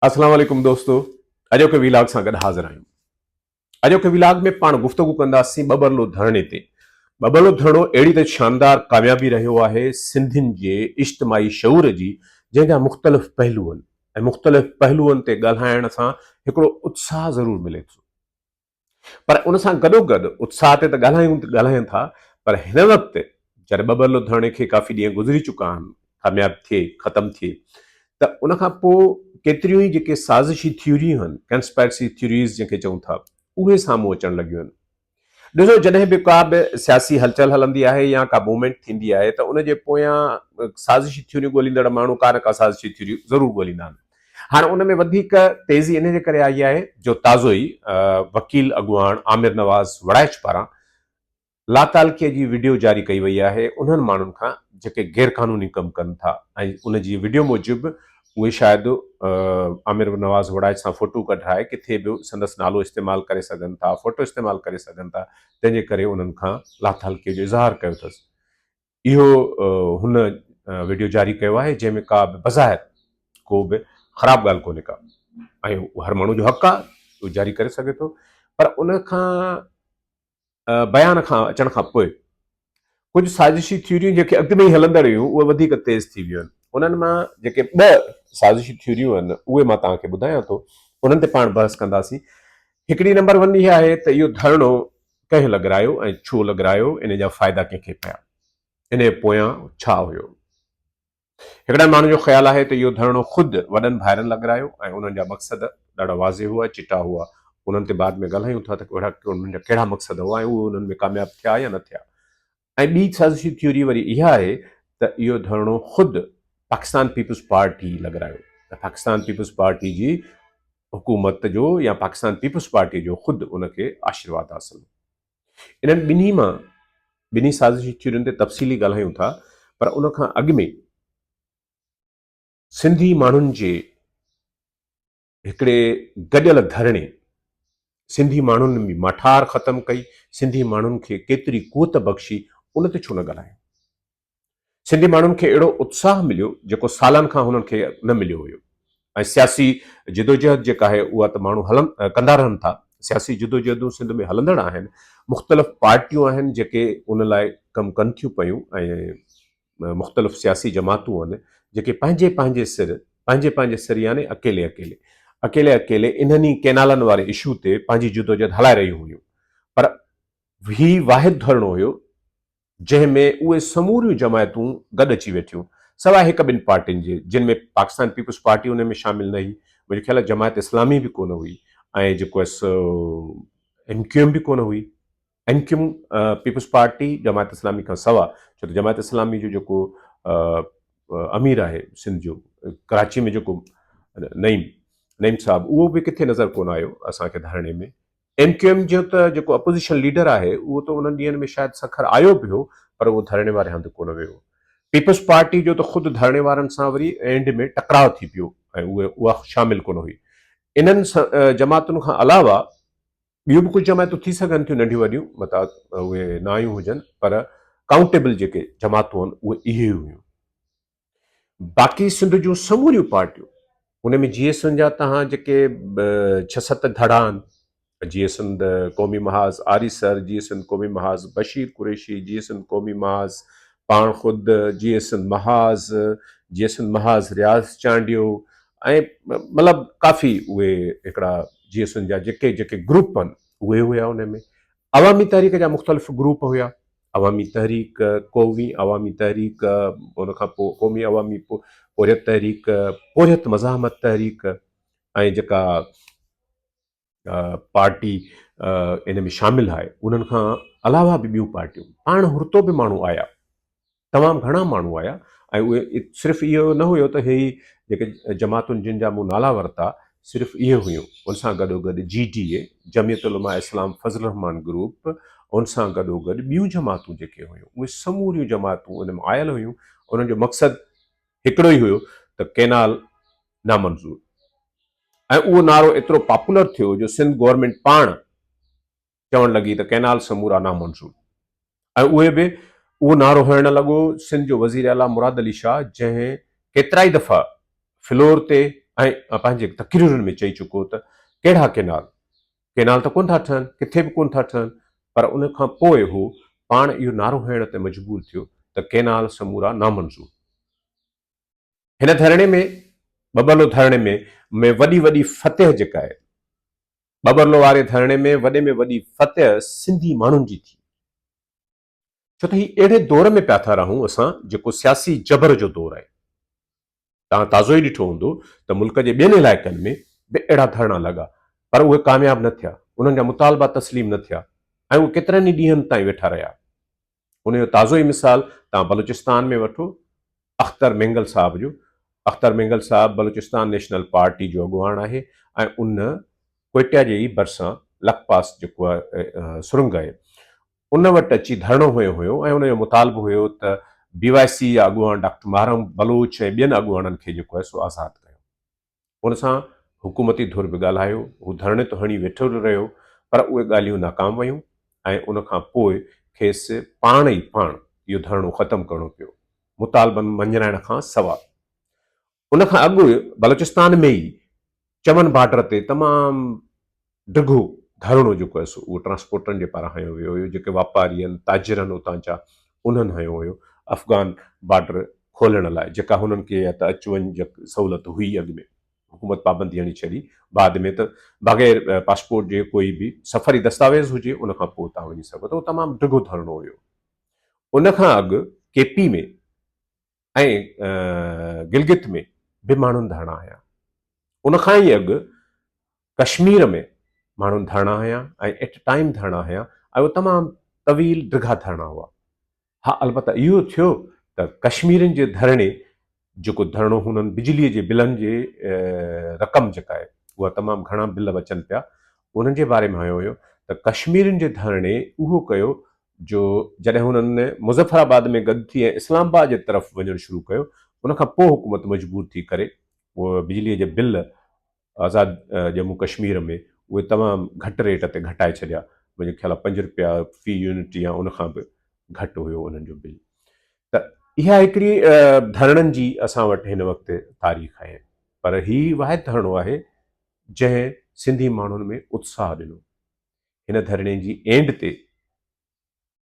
اسلام عليڪم دوستو اڄوڪي ويلاگ سان گڏ حاضر آهيون اڄوڪي ويلاگ ۾ پاڻ گفتگو ڪنداسين ٻٻرلو ڌرڻي تي ٻٻرلو ڌرڻو اهڙي ته شاندار ڪاميابي رهيو آهي سنڌين جي اجتماعي شعور جي جنهن جا مختلف پهلو آهن ۽ مختلف پهلوئن تي ڳالهائڻ سان هڪڙو اتساهه ضرور ملي ٿو پر ان سان گڏوگڏ اتساهه تي ته ڳالهايون ته ڳالهاين ٿا پر هن وقت جڏهن ٻه ٻه لڌاڻي کي ڪافي ڏينهن گذري چڪا آهن ڪامياب ٿئي ختم ٿئي ته ان کان پوء ڪيتريون ئي جيڪي سازشي ٿيوريون آهن ڪنسپائرسي ٿيوريز جنهن کي چئون ٿا اهي سامهون اچڻ لڳيون آهن ڏسو جڏهن به ڪا به سياسي هلچل هلندي آهي يا ڪا موومينٽ ٿيندي آهي ته ان جي پويان سازشي ٿيوريون ڳوليندڙ ماڻهو ڪا نه ڪا سازشي ٿيوري ضرور ڳوليندا آهن هاڻ ان ۾ وڌيڪ تيزي انهي جي ڪري آئي آهي جو تازو ئي وڪيل اڳواڻ عامر نواز وڙائچ پاران لاتعلقي جي وڊيو جاري ڪئي وئي آهي انهن ماڻهن کان جيڪي غيرقانوني ڪم ڪن ٿا ۽ ان جي وڊيو موجب اهي شايد عامر نواز وڙائچ سان فوٽو ڪڍرائي ڪٿي به سندس نالو استعمال ڪري سگهن ٿا فوٽو استعمال ڪري سگهن ٿا تنهن جي ڪري انهن کان لاتعلقي جو اظهار ڪيو اٿس اهو هن وڊيو جاري ڪيو آهي جنهن ۾ ڪا به بظاهر ڪو به خراب ڳالهه ڪونهي ڪا ۽ هر ماڻهو جو حق آهي اهو جاري ڪري سگهي ٿو پر ان کان بيان کان اچڻ کان پوء ڪجهه سازشي ٿيوريون جيڪي اڳ ۾ ئي هلندڙ هيون اهي وڌيڪ تيز ٿي ويون آهن انهن مان جيڪي ٻه سازشي ٿيوريون آهن اهي مان توهان کي ٻڌايان ٿو انهن تي پاڻ بحث ڪنداسين هڪڙي نمبر ون اها آهي ته اهو ڌرڻو ڪنهن لڳرايو ۽ ڇو لڳرايو، انهيء جا فائدا ڪنهن کي پيا، انهيء پويان ڇا هيو. هڪڙن ماڻهن جو خيال آهي ته اهو ڌرڻو خود وڏن ڀائرن لڳرايو ۽ انهن جا مقصد ڏاڍا واضح هئا، چٽا هئا. انهن تي بعد ۾ ڳالهايون ٿا ته اهڙا انهن جا ڪهڙا مقصد هئا ۽ اهي انهن ۾ ڪامياب ٿيا يا نه ٿيا. ۽ ٻي سازشي ٿيوري وري اها آهي ته اهو ڌرڻو خود پاڪستان پيپلز پارٽي لڳرايو ۽ پاڪستان پيپلز پارٽي جي حڪومت جو يا پاڪستان پيپلز پارٽي جو خود ان کي آشيرواد حاصل هو انهن ٻنهي مان ٻنهي سازشي ٿيورين تي تفصيلي ڳالهايون ٿا پر ان کان اڳ ۾ سنڌي ماڻهن جي هڪڙي گڏيل ڌرڻي سنڌي ماڻهن ۾ ماٺار ختم ڪئي، سنڌي ماڻهن کي ڪيتري قوت بخشي ان تي ڇو نه ڳالهايو؟ سنڌي ماڻهن کي اهڙو اتساهه مليو جيڪو سالن کان هنن کي نه مليو هيو ۽ سياسي جدوجهد جيڪا آهي اها ته ماڻهو هلن ڪندا رهن ٿا، سياسي جدوجهدون سنڌ ۾ هلندڙ آهن، مختلف پارٽيون آهن جيڪي ان لاء ڪم ڪن ٿيون پيون ۽ مختلف سياسي جماعتون آهن جيڪي پنهنجي پنهنجي سر پنهنجي پنهنجي سر يعني اڪيلي اڪيلي اڪيلي اڪيلي انهن ئي ڪينالن واري اشو تي پنهنجي جدوجهد هلائي رهيون هيون پر هي واحد ڌرڻو هيو جنهن ۾ اهي سموريون جماعتون گڏ اچي ويٺيون سواء هڪ ٻن پارٽين جي جن ۾ پاڪستان پيپلز پارٽي ان ۾ شامل نه هئي منهنجو خيال جماعت اسلامي به ڪونه هئي ۽ جيڪو ايم ڪيو ايم به ڪونه هئي M Q M, Peoples Party, Jamaat Islami کان سوا ڇو ته جماعت اسلامي جو جيڪو امير آهي سنڌ جو ڪراچي ۾ جيڪو نعيم نعيم صاحب اهو به ڪٿي نظر ڪونه آيو اسان کي ڌرڻي ۾ ايم ڪيو ايم جو ته جيڪو اپوزيشن ليڊر آهي اهو ته انهن ڏينهن ۾ شايد سکر آيو به هو پر اهو ڌرڻي واري هنڌ ڪونه ويو پيپلز پارٽي جو ته خود ڌرڻي وارن سان وري اينڊ ۾ ٽڪراء ٿي پيو ۽ اها شامل ڪونه هئي انهن جماعتن کان علاوه ٻيون به ڪجهه جماعتون ٿي سگهن ٿيون ننڍيون وڏيون متان اهي نه آيون هجن پر ڪائونٽيبل جيڪي جماعتون آهن اهي اهي ئي هيون باقي سنڌ جون سموريون پارٽيون ان ۾ جي ايس اين جا تهان جيڪي ڇهه ست ڌڙا آهن J S N Qaumi Mahaz آري سر J S N Qaumi Mahaz Bashir Qureshi J S N Qaumi Mahaz پاڻ خود J S N Mahaz J S N Mahaz Riaz Chandio ۽ مطلب ڪافي اهي هڪڙا جي ايس اين جا جيڪي جيڪي گروپ آهن اهي هيا ان ۾ عوامي تحريڪ جا مختلف گروپ هيا عوامي تحريڪ قومي عوامي تحريڪ ان کان پوء قومي عوامي پورهيت تحريڪ پورهيت مزاحمت تحريڪ ۽ جيڪا پارٽي ان ۾ شامل آهي انهن کان علاوه به ٻيون پارٽيون پاڻ هرتو به ماڻهو آيا تمام گهڻا ماڻهو آيا ۽ اهي صرف اهو نه هيو ته هي جيڪي جماعتن جن جا مون نالا ورتا صرف اهي هيون ان سان گڏو گڏ جي ڊي اي جميعت علماء اسلام فضل الرحمان گروپ ان سان گڏو گڏ ٻيون جماعتون جيڪي هيون اهي سموريون جماعتون ان ۾ آيل هيون انهن جو مقصد هڪڙو ئي هيو ته ڪينال نامنظور ۽ اهو نعرو ايترو پاپولر ٿيو جو سنڌ گورنمينٽ پاڻ چوڻ لڳي ته ڪئنال سمورا نامنظور ۽ اهي به اهو نعرو هڻڻ لڳو سنڌ جو وزير اعليٰ مراد علي شاهه جنهن ڪيترائي دفعا فلور تي ۽ پنهنجي تقريرن ۾ چئي چڪو ته ڪهڙا ڪئنال ڪئنال ته ڪونه ٿا ٺهن ڪٿي به ڪونه ٿا ٺهن پر ان کان پوء هو پاڻ اهو نعرو هڻڻ تي مجبور ٿيو ته ڪئنال سمورا نامنظور هن ڌرڻي ۾ ٻٻرلو ڌرڻي ۾ ۾ وڏي وڏي فتح جيڪا آهي ٻٻرلو واري ڌرڻي ۾ وڏي ۾ وڏي فتح سنڌي ماڻهن جي ٿي ڇو ته هي اهڙي دور ۾ پيا ٿا رهون اسان جيڪو سياسي جبر جو دور آهي توهان تازو ئي ڏٺو هوندو ته ملڪ جي ٻين علائقن ۾ به اهڙا ڌرڻا لڳا پر اهي ڪامياب نه ٿيا انهن جا مطالبا تسليم نه ٿيا ۽ اهي ڪيترن ئي ڏينهن تائين ويٺا رهيا ان جو تازو ئي مثال توهان بلوچستان ۾ وٺو اختر مينگل صاحب جو اختر مينگل صاحب بلوچستان نيشنل پارٽي جو اڳواڻ آهي ۽ ان ڪوئٽه جي ئي ڀرسان لکپاس جيڪو آهي سرنگ آهي ان وٽ اچي ڌرڻو هنيو هيو ۽ ان جو مطالبو هيو ته بي واء سي جا اڳواڻ ڊاڪٽر محرم بلوچ ۽ ٻين اڳواڻن کي جيڪو آهي سو آزاد ڪيو ان سان حڪومتي ڌر به ڳالهايو، هو ڌرڻي ته هڻي ويٺو رهيو پر اهي ڳالهيون ناڪام ويون ۽ ان کان پوء کيس پاڻ ئي پاڻ اهو ڌرڻو ختم ڪرڻو پيو مطالبن مڃرائڻ کان سواء. ان کان اڳ بلوچستان ۾ ئي چمن بارڊر تي تمام ڊگهو ڌرڻو جيڪو هيس اهو ٽرانسپورٽرن جي پاران هنيو ويو هيو جيڪي واپاري آهن تاجرن اتان جا انهن هنيو هيو افغان بارڊر کولڻ لاء جيڪا هنن کي يا ته اچ وڃ جي سهولت هئي اڳ ۾ حڪومت پابندي هڻي ڇڏي بعد ۾ ته بغير پاسپورٽ جي ڪوئي به سفري دستاويز هجي ان کان پوء تان وڃي سگهو ته اهو تمام ڊگهو ڌرڻو هيو ان کان اڳ ڪي پي ۾ ۽ گلگت ۾ به ماڻهن ڌرڻا هنيا. ان کان ئي اڳ ڪشمير ۾ ماڻهن ڌرڻا هنيا ۽ ايٽ ٽائيم ڌرڻا هنيا ۽ اهي تمام طويل ڊگها ڌرڻا هئا. ها البته اهو ٿيو ته ڪشميرين جي ڌرڻي جيڪو ڌرڻو هونئن بجلي جي بلن جي رقم جيڪا آهي اها تمام گهڻا بل اچن پيا انهن جي باري ۾ هنيو ويو ته ڪشميرين جي ڌرڻي اهو ڪيو جو جڏهن هنن مظفر آباد ۾ گڏ ٿي ۽ اسلام آباد جي طرف وڃڻ شروع ڪيو ان کان پوء حڪومت مجبور ٿي ڪري پوء بجلي جا بل آزاد ڄمون ڪشمير ۾ اهي تمام گهٽ ريٽ تي گهٽائي ڇڏيا منهنجي خيال پنج روپيا في يونٽ يا ان کان به گهٽ هيو انهن جو بل ته اها هڪڙي ڌرڻن جي اسان وٽ هن وقت تاريخ آهي پر هي واحد ڌرڻو آهي جنهن سنڌي ماڻهن ۾ اتساهه ڏنو هن ڌرڻي جي اينڊ تي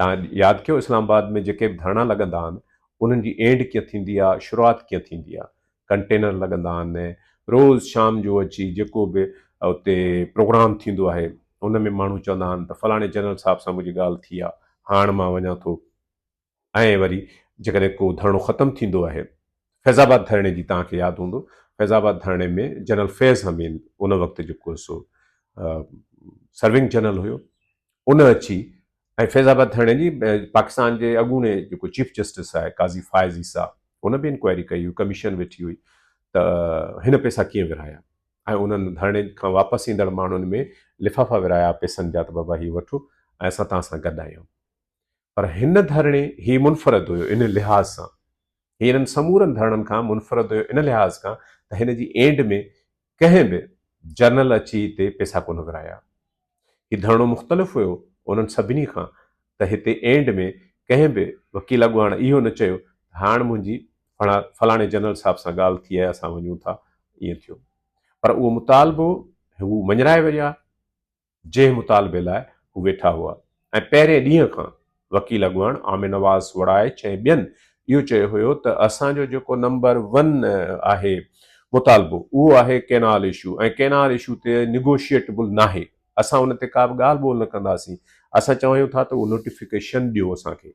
تان ياد ڪيو اسلام آباد ۾ جيڪي به ڌرڻا لڳندا آهن انهن جي اينڊ ڪيئن ٿيندي آهي شروعات ڪيئن ٿيندي آهي ڪنٽينر لڳندا آهن روز شام جو اچي جيڪو به اتي پروگرام ٿيندو آهي ان ۾ ماڻهو چوندا آهن ته فلاڻي جنرل صاحب سان منهنجي ڳالهه ٿي آهي هاڻ مان وڃان ٿو ۽ وري جيڪڏهن ڪو ڌرڻو ختم ٿيندو آهي، فيض آباد ڌرڻي جي توهان کي ياد هوندو فيض آباد ڌرڻي ۾ جنرل فيض حميد ان وقت جيڪو سو سرونگ جنرل هيو ان اچي ۽ فيض آباد ڌرڻي جي پاڪستان جي اڳوڻي جيڪو چيف جسٽس آهي قاضي فائز عيسيٰ ان به انڪوائري ڪئي هئي ڪميشن ويٺي هئي ته هن پيسا ڪيئن ورهايا ۽ انهن ڌرڻي کان واپس ايندڙ ماڻهن ۾ لفافا ورهايا پيسن جا ته بابا هي وٺو ۽ اسان تان سان گڏ آهيون پر هن ڌرڻي هي منفرد هيو ان لحاظ سان هي انهن سمورن ڌرڻن کان منفرد هيو ان لحاظ کان ته هن جي اينڊ ۾ ڪنهن به جرنل اچي هتي پيسا ڪونه ورهايا هي ڌرڻو مختلف هيو انهن سڀني کان ته هتي اينڊ ۾ ڪنهن به وڪيل اڳواڻ اهو نه چيو هاڻ منهنجي فلاڻي جنرل صاحب سان ڳالهه ٿي آهي اسان وڃون ٿا ائين ٿيو پر اهو مطالبو هو مڃرائي ويا جنهن مطالبي لاء هو ويٺا هئا ۽ پهرين ڏينهن کان وڪيل اڳواڻ عامر نواز وڙائچ ۽ ٻين اهو چيو هيو ته اسان جو جيڪو نمبر ون آهي مطالبو اهو آهي ڪينال اشو ۽ ڪينال اشو تي نيگوشيئيٽبل ناهي اسان ان تي ڪابه ڳالهه ٻولهه نه ڪنداسين اسان چوايون ٿا ته اهو نوٽيفڪيشن ڏيو اسان کي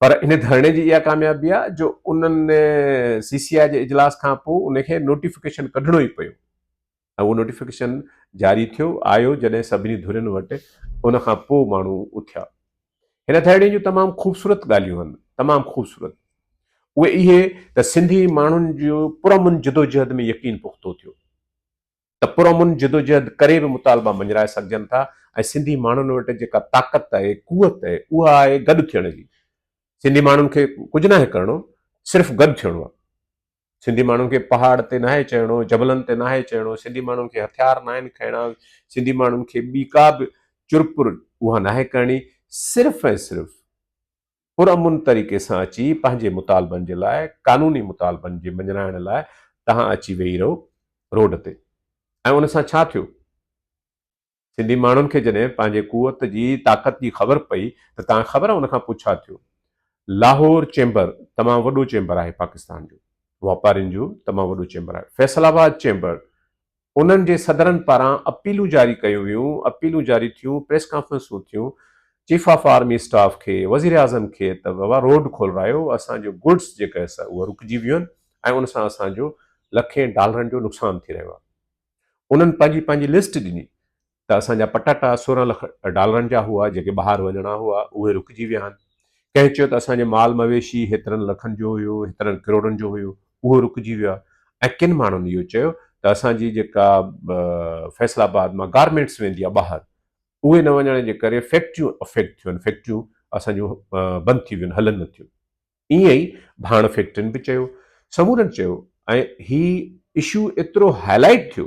پر ان ڌرڻي جي اها ڪاميابي آهي جو انهن سي سي آء جي اجلاس کان پوء ان کي نوٽيفڪيشن ڪڍڻو ئي پيو ۽ اهو نوٽيفڪيشن جاري ٿيو آيو جڏهن سڀني ڌرين وٽ ان کان پوء ماڻهو اٿيا هن ڌرڻي جون تمام خوبصورت ڳالهيون آهن تمام خوبصورت اهي اهي ته سنڌي ماڻهن جو پرامن جدوجهد ۾ يقين پختو ٿيو ته پرامن جدوجهد ڪري به مطالبا مڃرائي سگهجن ٿا ۽ سنڌي ماڻهن وٽ جيڪا طاقت آهي، قوت آهي، اها آهي گڏ ٿيڻ جي. سنڌي ماڻهن کي ڪجهه ناهي ڪرڻو، صرف گڏ ٿيڻو آهي. سنڌي ماڻهن کي پهاڙ تي ناهي چڙهڻو، جبلن تي ناهي چڙهڻو، سنڌي ماڻهن کي هٿيار ناهن کڻڻا، سنڌي ماڻهن کي ٻي ڪا به چرپر اها ناهي ڪرڻي، صرف ۽ صرف پرامن طريقي سان اچي پنهنجي مطالبن جي لاء قانوني مطالبن جي مڃرائڻ لاء تهان اچي ويهي رهو روڊ تي ۽ ان سان ڇا ٿيو؟ سنڌي ماڻهن کي جڏهن پنهنجي قوت جي طاقت جي خبر پئي ته تهان خبر ان کان پوء ڇا ٿيو؟ لاهور چيمبر تمام وڏو چيمبر آهي پاڪستان جو واپارين جو تمام وڏو چيمبر آهي فيصل آباد چيمبر انهن جي صدرن پاران اپيلون جاري ڪيون ويون، اپيلون جاري ٿيون، پريس ڪانفرنسون ٿيون، چيف آف آرمي اسٽاف کي، وزيراعظم کي ته بابا روڊ کولرايو، اسان جو گڊس جيڪا هي سا اهي رڪجي ويون آهن ۽ ان سان اسان جو لکين ڊالرن جو نقصان ٿي رهيو آهي. انهن پنهنجي پنهنجي لسٽ ڏني ته اسان جا پٽاٽا سورهن لک ڊالرن جا هئا، جيڪي ٻاهر وڃڻا هئا، اهي رڪجي ويا آهن. ڪنهن چيو ته اسان جو مال مويشي هيترن لکن جو هيو، هيترن ڪروڙن جو هيو، اهو رڪجي ويو آهي ۽ ڪن ماڻهن اهو چيو ته اسان جي جيڪا فيصل آباد مان گارمينٽس ويندي آهي ٻاهر، اهي نه وڃڻ جي ڪري فيڪٽريون افيڪٽ ٿيون آهن، فيڪٽريون اسان جون بند ٿي ويون آهن، هلن نه ٿيون. ائين ئي ڀاڻ فيڪٽرين به چيو، سمورن چيو ۽ هي اشو ايترو هائلائيٽ ٿيو،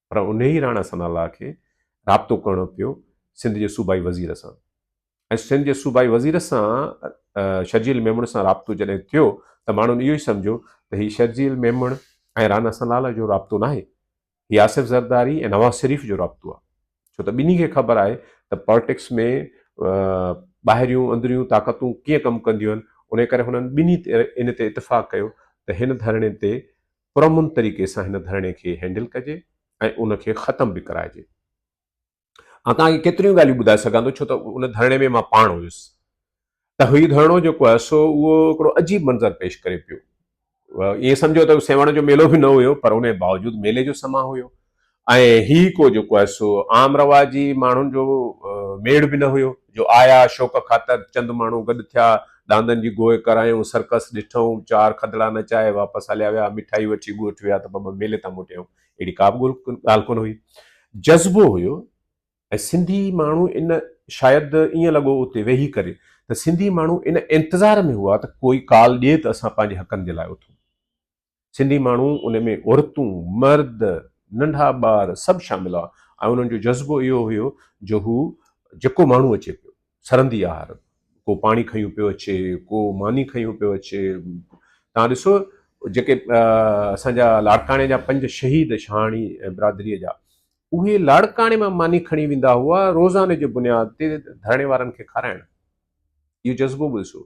پر انهي ئي راڻا ثناء الله کي رابطو ڪرڻو پيو سنڌ جي صوبائي وزير سان ۽ سنڌ جي صوبائي وزير سان شرجيل ميمڻ سان رابطو جڏهن ٿيو ته ماڻهن اهو ئي سمجهيو ته هي شرجيل ميمڻ ۽ رانا ثناء الله جو رابطو ناهي هي آصف زرداري ۽ نواز شريف جو رابطو آهي ڇو ته ٻنهي کي خبر آهي ته پالٽڪس ۾ ٻاهريون اندريون طاقتون ڪيئن ڪم ڪنديون آهن ان ڪري هنن ٻنهي ان تي اتفاق ڪيو ته هن ڌرڻي تي پرامن طريقي سان هن ڌرڻي کي هينڊل ڪجي ۽ ان کي ختم به ڪرائجي. آء توهان کي ڪيتريون ڳالهيون ٻڌائي سگهان ٿو ڇو ته ان ڌرڻي ۾ مان پاڻ هيس ته هي ڌرڻو جيڪو آهي سو اهو هڪڙو عجيب منظر پيش ڪري پيو. ائين سمجهو ته سيوهڻ جو ميلو به نه هيو پر ان جي باوجود ميلي جو سماء هيو. ۽ هي ڪو جيڪو آهي سو عام رواجي ماڻهن جو ميڙ به نه هيو جو آيا شوق خاطر چند ماڻهو گڏ ٿيا، ڏاندن جي گوء ڪرايون، سرڪس ڏٺئون، چار کدڙا نچائي واپس هليا ويا، مٺائي وٺي ڳوٺ ويا ته ٻٻ ميلي تان موٽيائون، اهڙي ڪا به ڳالهه ڪونه هئي. جذبو هيو ۽ سنڌي ماڻهو ان شايد ائين لڳو اتي ويهي ڪري ته سنڌي ماڻهو ان انتظار ۾ هئا ته ڪوئي ڪال ڏئي ته اسان پنهنجي حقن جي لاء اٿون. سنڌي ماڻهو ان ۾ عورتون، مرد، ننڍا ٻار سڀ شامل هئا ۽ انهن جو جذبو اهو هيو جو هو جيڪو ماڻهو اچي پيو سرندي آهر ڪو پاڻي کنيو پيو اچي ڪو ماني کنيو پيو اچي تان ڏسو جيڪي اسان جا لاڙڪاڻي جا پنج شهيد شهاڻي برادري جا اهي لاڙڪاڻي مان ماني کڻي ويندا هئا روزاني جي بنياد تي ڌرڻي وارن کي کارائڻ اهو جذبو به ڏسو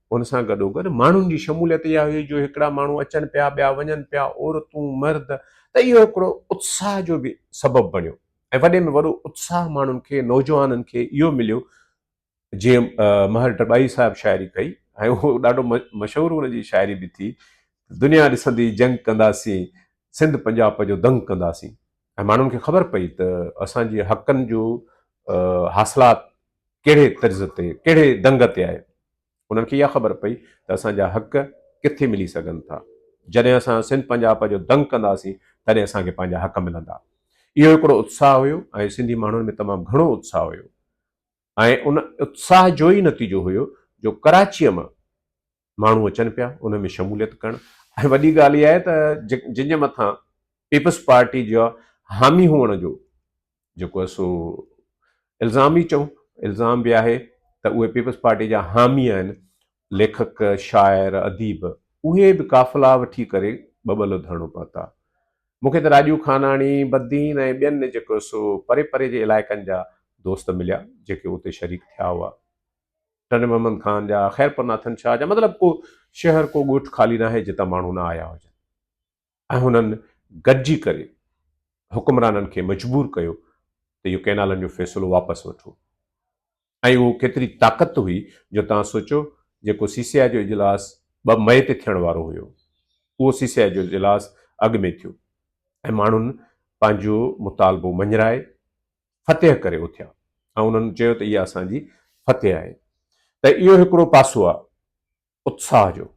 ان سان گڏوگڏ ماڻهن جي شموليت اها هئي جو هڪڙا ماڻهو اچن پيا، ٻيا وڃن پيا، عورتون، مرد، ته اهو هڪڙو اتساهه جو به سبب بڻيو ۽ وڏي ۾ وڏو اتساهه ماڻهن کي، نوجوانن کي اهو مليو جيئن مهر ڊٻائي صاحب شاعري ڪئي ۽ اهو ڏاڍو مشهور ان جي شاعري به ٿي، دنيا ڏسندي جنگ ڪنداسين، سنڌ پنجاپ جو دنگ ڪنداسين. ۽ ماڻهن کي خبر پئي ته اسان جي حقن جو حاصلات ڪهڙي طرز تي ڪهڙي دنگ تي آهي انهن کي اها خبر پئي ته اسان جا حق ڪٿي ملي سگهن ٿا جڏهن اسان سنڌ پنجاب جو دنگ ڪنداسين تڏهن اسان کي پنهنجا حق ملندا اهو هڪڙو اتساهه هيو ۽ سنڌي ماڻهن ۾ تمام گهڻو اتساهه هيو ۽ ان اتساهه جو ئي نتيجو هيو جو ڪراچيء مان ماڻهو اچن پيا ان ۾ شموليت ڪرڻ ۽ وڏي ڳالهه اها آهي ته جن جي مٿان پيپلز پارٽي جا حامي هئڻ جو جيڪو آهي سو الزام ئي چئون الزام به آهي ته اهي پيپلز پارٽي جا حامي آهن ليکڪ، شاعر، اديب اهي به قافلا وٺي ڪري ٻٻلو ڌرڻو پهتا. مون کي ته راڄو خاناڻي، بدين ۽ ٻين جيڪو سو پري پري جي علائقن جا دوست مليا جيڪي اتي شريڪ ٿيا هئا. ٽنڊي محمد خان جا، خيرپور ناٿن شاهه جا مطلب ڪو شهر ڪو ڳوٺ خالي ناهي جتان ماڻهو نه آيا هجن. ۽ هنن گڏجي ڪري حڪمرانن کي مجبور ڪيو ته اهو ڪئنالن جو فيصلو واپس وٺو ۽ اهو ڪيتري طاقت هئي جو توهان سوچو جيڪو سي سي آء جو اجلاس ٻه مئي تي ٿيڻ وارو هيو اهو سي سي آء جو اجلاس اڳ ۾ ٿيو ۽ ماڻهن پنهنجو مطالبو مڃرائي فتح ڪري اٿيا ۽ انهن چيو ته اها اسان جي فتح آهي ته اهو هڪڙو پاسو آهي اتساهه جو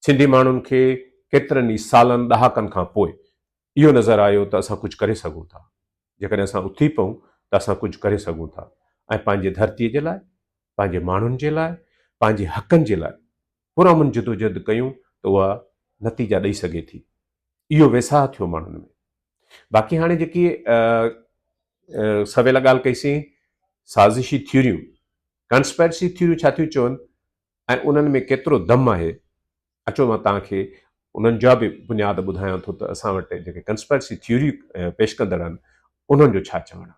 سنڌي ماڻهن کي ڪيترن ئي سالن ڏهاڪن کان پوء اهو نظر آيو ته اسان ڪجهه ڪري سگهون ٿا، جيڪڏهن اسان اٿي پئون ته اسان ڪجهه ڪري سگهون ٿا ۽ پنهنجي ڌرتي جي لاء، پنهنجي ماڻهن جي لاء، پنهنجي حقن جي لاء پرامن جدوجهد ڪيون ته اها نتيجا ڏئي سگهي ٿي. اهو ويساهه ٿيو ماڻهن ۾. باقي هاڻي جيڪي سويل ڳالهه ڪئي سين سازشي ٿيوريون، Conspiracy Theory ڇا ٿيون چون ۽ انهن ۾ ڪيترو دم آهي، اچو مان توهان کي انهن جا به بنياد ٻڌايان ٿو ته اسان وٽ جيڪي ڪنسپرسي ٿيوري پيش ڪندڙ آهن انهن جو ڇا چوڻ آهي.